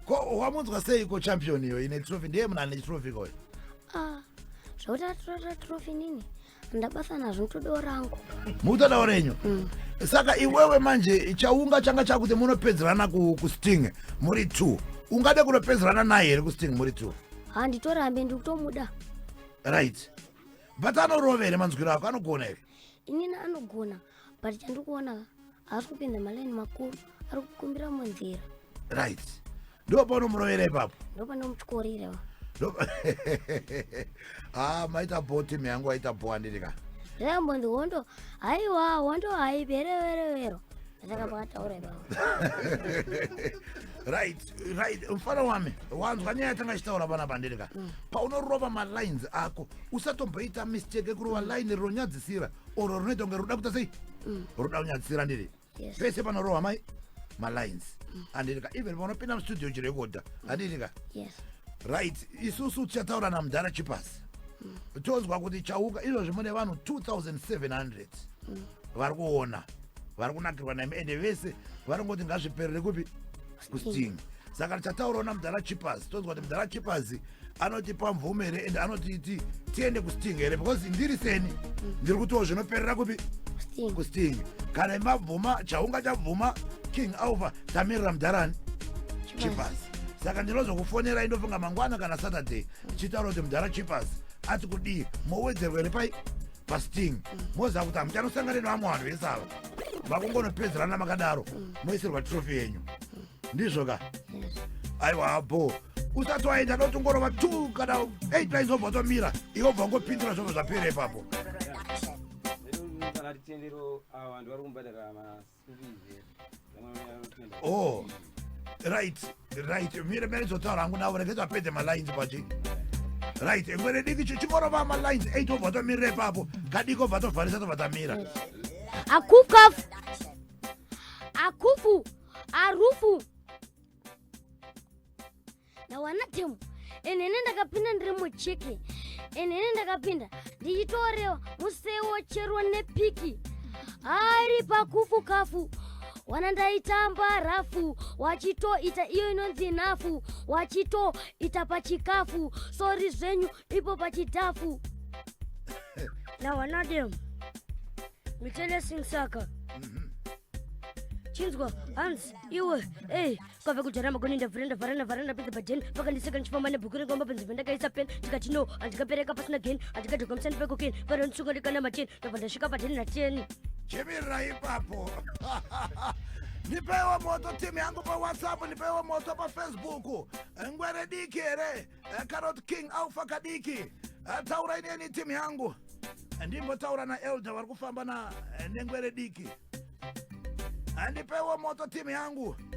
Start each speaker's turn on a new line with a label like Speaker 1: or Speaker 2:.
Speaker 1: ko wamunzwa seiko champion iyo ine trophy ndiye munhu ane trophy koyo ah, zvekuti atorata
Speaker 2: trophy nini ndabasa nazvo nitodewo rangu mukutodawo renyu
Speaker 1: mm. saka iwewe manje chaunga changa chakuti munopedzerana kusting muri two ungade kunopedzerana naye here kusting muri two handitorambe
Speaker 2: ndikutomuda
Speaker 1: right but anorovere manzwiro ako anogona here inini anogona
Speaker 2: but chandiri kuona haasi kupinda malaini makuru ari kukumbira munzira right
Speaker 1: ndo paunomurovera ipapo ndo panomutyorirewa ha ah, maita bho tim yangu aita bho andiri ka zvambonzi hondo
Speaker 2: haiwa hondo haipereverevero
Speaker 1: mfana wami wanzwa nyaya yatanga ichitaura vana pandirika mm. paunorova malines ako usatomboita mistake ekurova line rinonyadzisira oro rinoita kunge ruda kuta sei mm. ruda kunyadzisira ndiri pese panorohwa mai malines mm. andirika even vanopinda mustudio chirekodha andirika
Speaker 2: right
Speaker 1: isusu tichataura namudhara chipasi tonzwa kuti chauka izvozvi mune vanhu 2700 vari kuona vari kunakirwa nemi ende vese vari kungoti ngazviperere kupi kusting saka tichataurawo namudhara chipas tonzwa kuti mudhara chipas anotipa mvumo here ende anotiti tiende kusting here because ndiri seni ndiri kutiwo zvinoperera kupi kusting kana imabvuma chaunga chabvuma king alva tamirira mudharani chipas saka ndinozokufonera indofunga mangwana kana saturday chitaura kuti mudhara chipas ati kudii mowedzerwa here pai pasting moziva kuti hamuchanosangana nevamwe vanhu vese ava vakungonopedzerana makadaro moisirwa trofi yenyu ndizvo ka aiwa habo usati waenda notongorova t kana 8 raizobva tomira iwobva ngopindura zvobva zvapera ipapo oh right right mire mire zotaura hangu navo rege zvapedze malines pachi right ngwere diki chingorova malines 8 obva tomirira ipapo kadiki obva tovharisa tobva tamira akukafu
Speaker 2: akufu arufu ndawana temu enene ndakapinda ndiri muchiki enene ndakapinda ndichitorewa musewo chero nepiki ari pakufu kafu wana ndaitamba rafu wachitoita iyo inonzi nhafu wachitoita pachikafu sori zvenyu ipo pachidhafu nawanadem mitelesingsaka mhm. chinzwa hanzi iwe ey kwave kudyara magoni ndavhura ndavhara ndavhara ndapedza bajeni vakandiseka ndichifamba nebhuku rengomba panzvimbo ndakaisa pen ndikati no handikapereka pasina geni handikadhoka musani pekoken varo ndisunga ndikana mateni ndabva ndasvika pateni nateni chimirira
Speaker 1: ipapo nipeiwo moto timu yangu pawhatsapp nipeiwo moto pafacebook ngwere diki here Eh, kana kuti king alfa kadiki Eh, taurai neni timu yangu ndimbotaura naelder vari kufamba na eh, nengwere diki Eh, ndipeiwo moto timu yangu